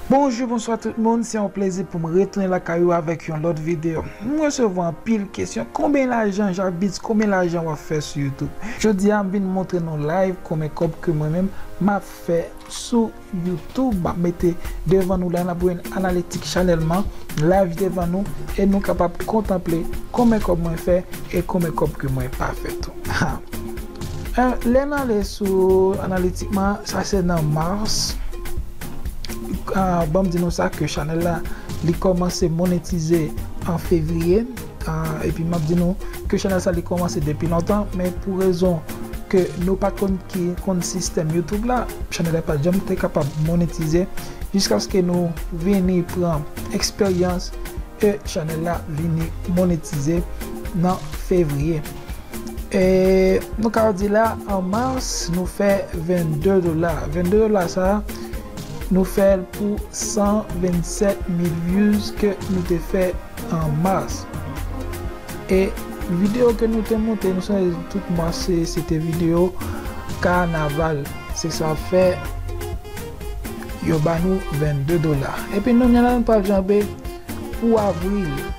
Bonjou bonswa tout moun se yon plezi poum retounen lakay ou avèk yon lòt video m resevwa anpil kesyon konbyen lajan jabitz konbyen lajan wap fè sou youtube jodi a m vin montre nou live konbyen kòb ke mwen menm map fè sou youtube map mete devan nou la nap wè yn analitik chanèl mwen live devan nou e nou kapab kontanple konbyen kòb mwen fè e konbyen kòb ke mwen pa fè tou haa. Lè n ale sou analitikman sa se nan mars banm di nou sa ke chanèl la li kòmanse monetize an fevriye epi map di nou ke chanèl sa li kòmanse depi lontan men pou rezon ke nou pat konn ki konn sistèm youtube la chanèl la pat janm te kapab monetize jiskaske nou vini pran eksperyans e chanèl la vini monetize nan fevriye. E nou ka di la an mars nou fè 22 dola. 22 dola sa nou fèl pou 127 mil views ke nou te fè an mars. E video ke nou te monte nou sonje tout mars se te video kanaval. Se sa fè yo ba nou 22 dola. Epi nou menm la nou pral janbe pou avril.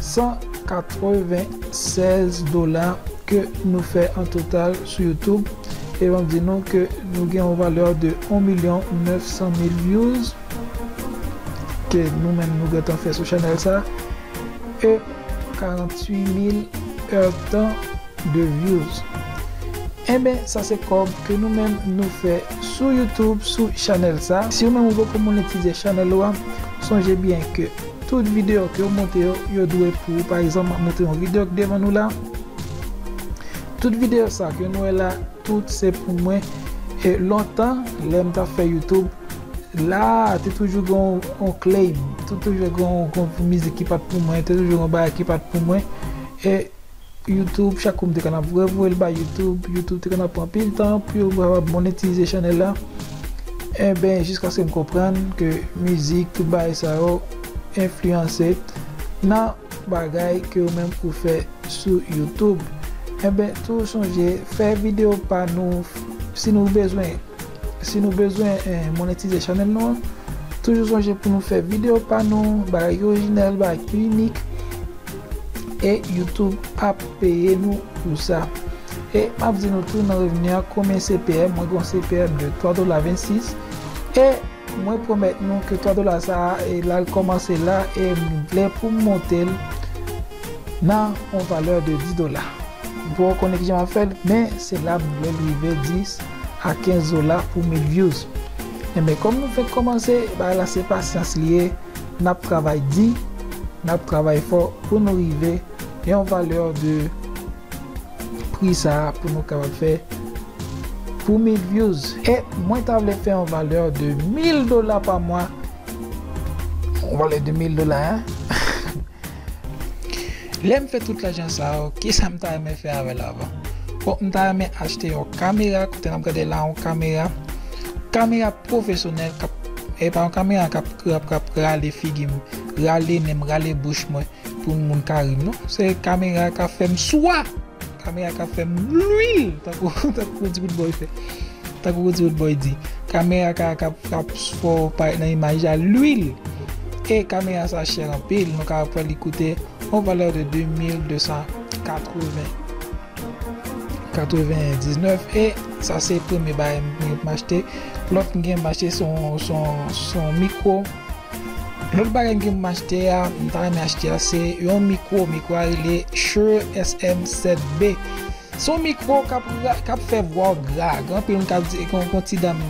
196 dola ke nou fè an total sou youtube e map di nou ke nou gen yon valè de 1 milyon 900 mil vyouz ke nou menm nou gentan fè sou chanèl sa e 48 mil èdtan de vyouz enben sa se kòb ke nou menm nou fè sou youtube sou chanèl sa si ou menm ou poko monetize chanèl ou a sonje byen ke. Tout video kew monte yo, yo dwe pou ou pa egzanp map monte yon video ki devan nou la tout video sa ke nou wè la tout se pou mwen e lontan lèm tap fè youtube la te toujou gen yon claim te toujou gen yon mizik ki pat pou mwen te toujou gen yon bagay ki pat pou mwen e YouTube chak kou m te konn ap vwe vwe l bay YouTube YouTube te konn ap pran pil tan pou yo kapab monetize chanèl la enben jiskaske m konprann ke mizik tout bagay sa yo enfliyanse nan bagay ke ou menm ou fè sou YouTube enben toujou sonje fè videyo pa nou si nou bezwen. Si nou bezwen monetize chanèl nou an, toujou sonje pou nou fè videyo pa nou, bagay ki orijinal, bagay ki inik, e YouTube ap peye nou pou sa. E m ap di nou tou nan revni an konbyen CPM, mwen gen yon CPM de 3 dola 26, e mwen pwomèt nou ke 3 dola sa a e l al kòmanse la e m vle pou m monte l nan yon valè de 10 dola. M poko konnen kijan m ap fè l, men se la m vle l rive 10. a kenzola pou mil vyouz enben kòm nou fenk kòmanse bagay la se pasyans li ye nap travay di nap travay fò pou nou rive yon valè de pri sa pou nou kapab fè pou mil vyouz e mwen ta vle fè yon valè de mil dola pa mwa yon valè de mil dola hein. Lèm fè tout lajan sa yo kisam ta renmen fè avèl avan bon m ta renmen achte yon kamera kote nap gade la yon kamera kamera pwofesyonèl kap epa yon kamera kap kap rale figim rale nenm rale bouch mwen pou moun ka rim non se kamera ka fèm swa. Kamera kap fèm lwil tankou Roody Roodboy fè tankou Roody Roodboy di kamera ka kap kap fò parèt nan imaj la lwil e kamera sa chè anpil nou ka wè li koute yon valè de 2280 99 e sa se premye bagay m achte lòt m gen m achte son son son mikwo Lòt bagay m gen pou m achte a, m ta renmen achte a se yon mikwo, mikwo a rele Shure SM7B. Se yon mikwo k ap fè vwa w gra. Gen anpil moun k ap di, gen yon ti dam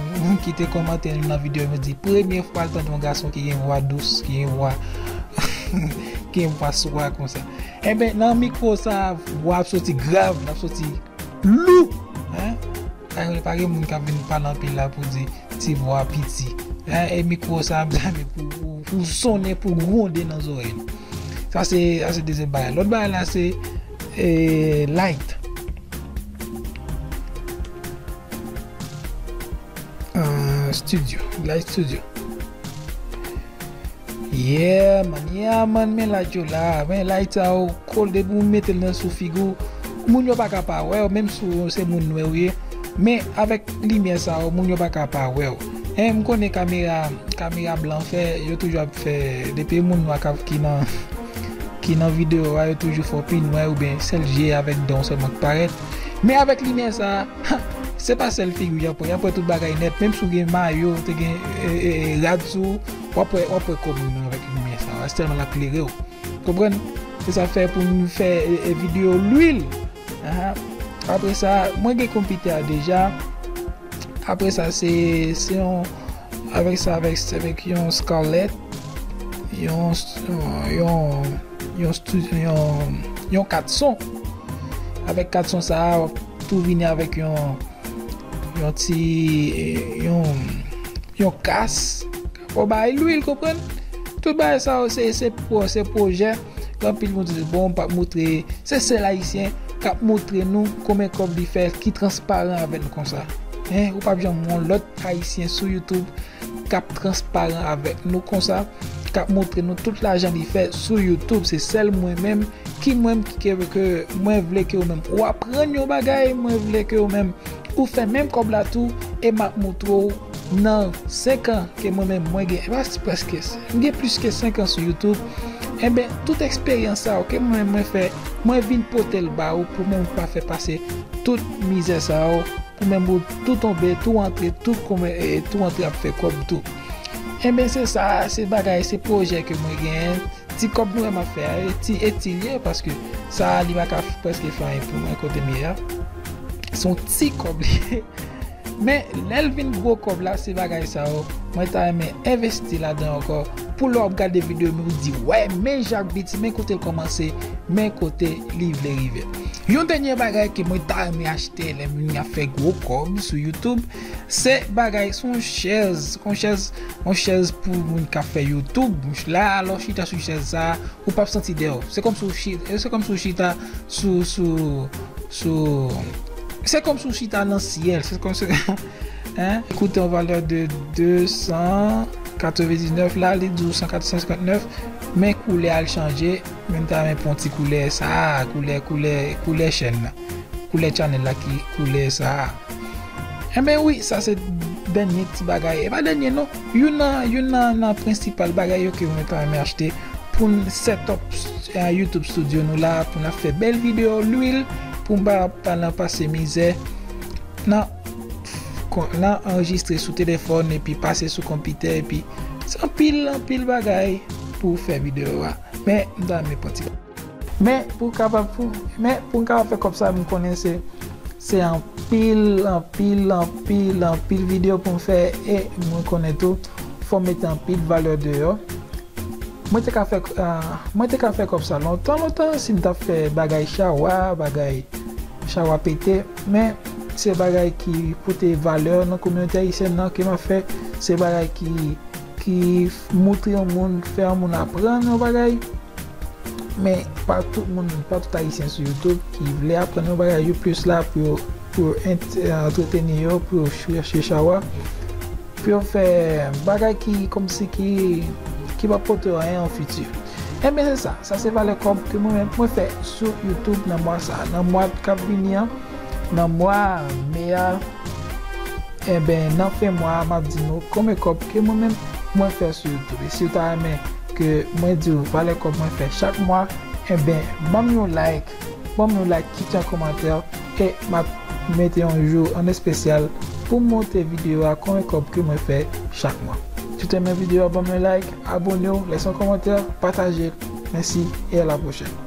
ki te kòmante nan videyo m yo di premye fwa l tande yon gason ki gen vwa dous, ki gen vwa ki gen vwa swa konsa. Enben nan mikwo sa a vwa ap soti grav, l ap soti lou. Sa yo pa gen moun kap vin pale anpil la pou di ti vwa piti. La e mikro sa ap zame pou sonnen pou gwonde nan zorèy nou. Sa se dezyèm bagay. Lòt bagay la se light. Studio, light studio. Yeah man yeah man men like yo la men like sa yo cool depi ou metel nan sou figi w moun yo paka pa wèw menm si ou se moun nwè ou ye men avèk limyè sa yo moun yo paka pa wèw en m konnen kamera kamera blan fè yo toujou ap fè depi moun nwa kap ki nan ki nan video a yo toujou fè w pi nwè oubyen sèl je avèk dan w sèlman k parèt men avèk limyè sa. Ha! Se pa sèl figi w y ap wè, y ap wè tout bagay nèt. Menm si w gen mayo, te gen rad sou ou, w ap wè kòm ou nan avèk limyè sa a, tèlman l ap klere w. Konprann? Se sa k fè pou nou fè videyo lwil. Apre sa, mwen gen konpitè a deja. Apre sa, se yon avèk sa avèk se avèk yon scarlett, yon yon yon yon kat son. Avèk kat son sa a. Tou vini avèk yon yon ti yon kas pou bay lwil konprann tout bagay sa yo se se pou se projè anpil moun di bon pa moutre se sèl ayisyen kap moutre nou konbyen kòb li fè ki transparan avè nou konsa ou pap janm wè yon lòt ayisyen sou youtube kap transparan avèk nou konsa kap moutre nou tout lajan li fè sou youtube se sèl mwen menm ki mwen menm ke mwen vle ke ou menm ou aprann yon bagay mwen vle ke ou menm ou fè menm kòb la tou e map moutre ou nan 5 an ke mwen menm mwen gen plas preske mwen gen plis ke 5 an sou youtube enben tout eksperyans sa yo ke mwen menm mwen fè mwen vin pote l ba ou pou menm ou pa fè pase tout mizè sa yo pou menm ou tou tonbe tou antre tou kome tou antre ap fè kòb tou enben se sa se bagay se projè ke mwen gen. Ti kòb mwen map fè a e ti eti li ye paske sa a li pa ka prèske fè anyen pou mwen kote m ye a. Se yon ti kòb li ye. Men lè l vin gwo kòb la se bagay sa yo mwen ta renmen envesti ladan ankò pou lè w ap gade videyo m yo ou di wè men Jacques Beats men kote l kòmanse men kote li vle rive. Yon dènye bagay ke mwen ta renmen achte lè m vini ap fè gwo kòb sou youtube Se bagay son chèz Son chèz Yon chèz pou moun kap fè youtube La a lè w chita sou chèz sa a Ou pap santi dèw Se kòmsi w chi Se kòmsi w chita sou sou sou Se kòmsi w chita nan syèl Se kòmsi Hein Li koute yon valè de 299 la Li di w 159 Men koulè a l chanje Men m ta renmen pou yon ti koulè sa a Koulè koulè koulè chèn nan Koulè channel la ki koulè sa a. Enben wi sa se dènye ti bagay, e pa dènye non, youn nan youn nan nan prensipal bagay yo ke mwen ta renmen achte pou n setup YouTube studio nou la pou n ap fè bèl video, lwil pou m pa ap nan pase mizè nan nan anrejistre sou telefòn epi pase sou konpitè epi se anpil anpil bagay pou w fè video a men m ta renmen pran ti. Men pou kapab pou men pou m kapab fè kòb sa m konnen se se anpil anpil anpil anpil video pou m fè e mwen konnen tou fò m mete anpil valè deyò mwen te ka fè mwen te ka fè kòb sa lontan lontan si m tap fè bagay chawa bagay chawa pete men se bagay ki pote valè nan kominote ayisyèn nan ke map fè se bagay ki ki moutre yon moun, fè yon moun aprann yon bagay, men pa tout moun, pa tout ayisyen sou youtube ki vle aprann yon bagay, yo plis la pou yo, pou yo antreteni yo, pou yo chèche chawa, pou yo fè bagay ki kòmsi ki, ki pap pote yo anyen an fiti. Enben se sa, sa se valè kòb ke mwen menm mwen fè sou youtube nan mwa sa, nan mwa kap vini an, nan mwa me a. Enben nan fen mwa a map di nou konbyen kòb ke mwen menm mwen fè sou youtube e siw ta renmen ke mwen diw valè kòb mwen fè chak mwa enben banm yon like banm yon like kite yon kòmantè e map mete yon jou an espesyal poum monte video a konbyen kòb ke mwen fè chak mwa siw te renmen video a banm yon like abonew lèse yon kòmantè patajel mèsi e a la pwochèn.